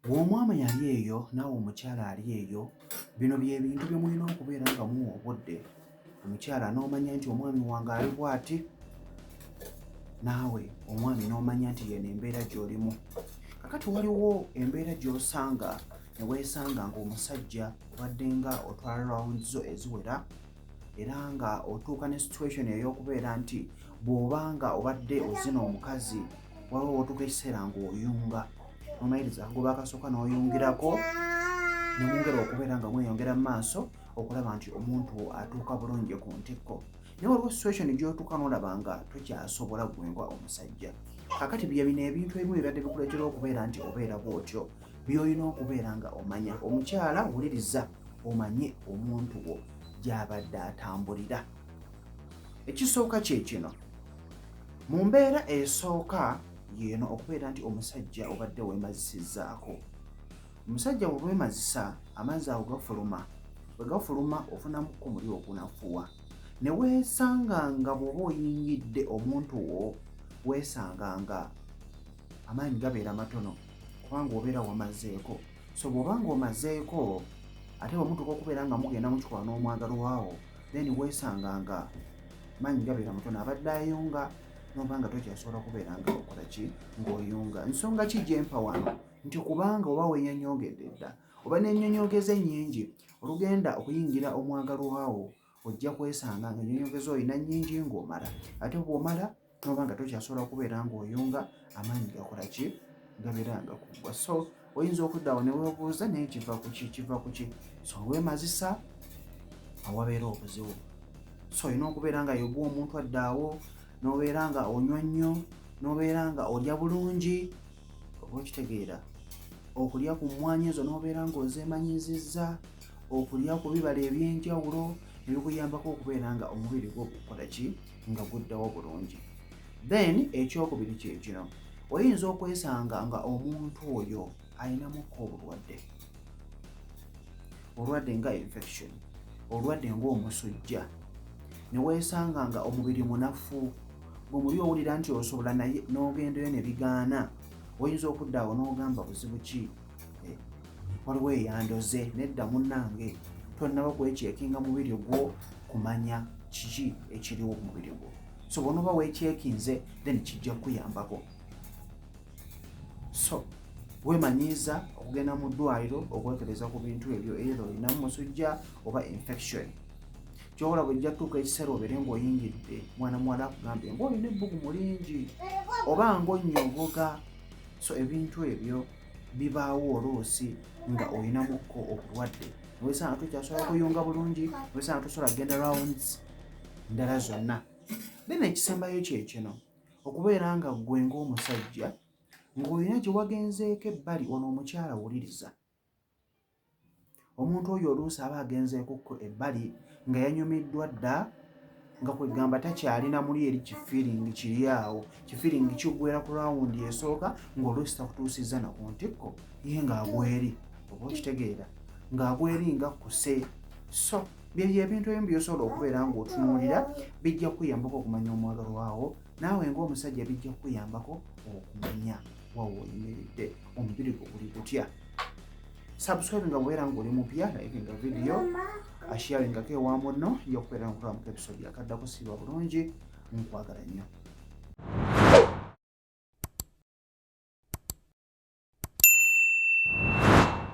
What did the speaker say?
Gwe omwami ali eyo naawe omukyala ali eyo, bino bye bintu bye mulina okubeera nga muwa obudde omukyala n'omanya nti omwami wange ali bw'ati, naawe omwami n'omanya nti yeno embeera gy'olimu. Kakati waliwo embeera gy'osanga ne weesanga ng'omusajja obadde nga otwala round zo eziwera era nga otuuka ne situation ey'okubeera nti bw'oba nga obadde ozina omukazi waliwo wotuka ekiseera ngaoyunga omayiriza agoba akasooka noyungirako nemwongera okubeera nga mweyongera mu maaso okulaba nti omuntu atuuka bulungi ku ntikko naye waliwo situation gyotuuka nolaba nga tokyasobola gwengwa omusajja kakati byebino ebintu ebimu ebibadde bikuleetera okubeera nti obeera bwotyo byolina okubeera nga omanya omukyala wuliriza omanye omuntu wo gyabadde atambulira ekisooka kyekino Mu mbeera esooka yeeno okubeera nti omusajja obadde wemazisizzaako. Omusajja bwewemazisa amazzi ago gafuluma, bwe gafuluma ofunamu ku muli ogunafuwa ne weesanga nga bw'oba oyingidde omuntu wo weesanga nga amaanyi gabeera matono kubanga obeera wamazeeko so bw'oba ng'omazeeko ate bwemutuuka okubeera nga mugenda mukikola n'omwagalwawo then weesanga nga maanyi gabeera mutono abadde ayunga noba nga tokyasobola kubeera nga okola ki ng'oyunga nsonga ki gyempa wano nti kubanga oba wenyonyogedde dda oba nenyonyogeza ennyingi olugenda okuyingira omwagalwawo ojja kwesanga nga enyonyogeza olina nyingi ng'omala ate bwomala toba nga tokyasobola kubeera ng'oyunga amaanyi gakola ki gabeera nga kuggwa so oyinza okuddawo ne webuuza naye kiva kuki kiva kuki so wemazisa awabeera obuzibu so olina okubeera nga yogwa omuntu addaawo n'obeera nga onywa nnyo n'obeera nga olya bulungi oba okitegeera okulya ku mmwanyi ezo n'obeera ng'ozeemanyiizizza okulya ku bibala eby'enjawulo ebikuyambako okubeera nga omubiri gwo gukola ki nga guddewo bulungi then ekyokubiri kyekino oyinza okwesanga nga omuntu oyo alinamukka obulwadde olwadde nga infection olwadde ngaomusujja newesanga nga omubiri munafu gwe muli owulira nti osobola naye n'ogendayo ne bigaana oyinza okudda awo n'ogamba buzibu ki eh, waliwo eyandoze nedda munange tonnaba kwekyekinga mubiri gwo kumanya kiki ekiriwo ku mubiri gwo so bwonoba wekyekinze then kijja kukuyambako so wemanyiiza okugenda mu ddwaliro okwekereza ku bintu ebyo era olinamu musujja oba infection kyobola bwejja tuuka ekiseera obeere ngaoyingidde mwana muwala akugambye ngaolina ebbugumu lingi oba ngaonyogoga so ebintu ebyo bibaawo oluusi nga olinamukko obulwadde nowesanga tokyasobola kuyunga bulungi nowesanga tosobola kugenda rounds ndala zonna then ekisembayo kyekino okubeera nga ggwe ngaomusajja ng'olina gye wagenzeeko ebbali ono omukyala wuliriza omuntu oyo oluusi aba agenzeekukko ebbali nga yanyumiddwa dda nga kwegamba takyalina muli eri kifiringi kiri awo kifiringi kigwera ku lawundi esooka ngaoluusi takutuusizza naku ntikko ye ngaagweri oba okitegeera ngaagweri nga kuse so byebyo ebintu ebimu byosobola okubeera ngaotunuulira bijja kuyambako okumanya omwagalwawo naawe ng'omusajja bijja kukuyambako okumanya wawe oyimiridde omubiri gwo guli gutya subscribe nga bwera ng'oli mupya nayekenga vidiyo ashiyaringako ewa munno yokubeera nkulamuka episode yakaddako siba bulungi nkwagala nnyo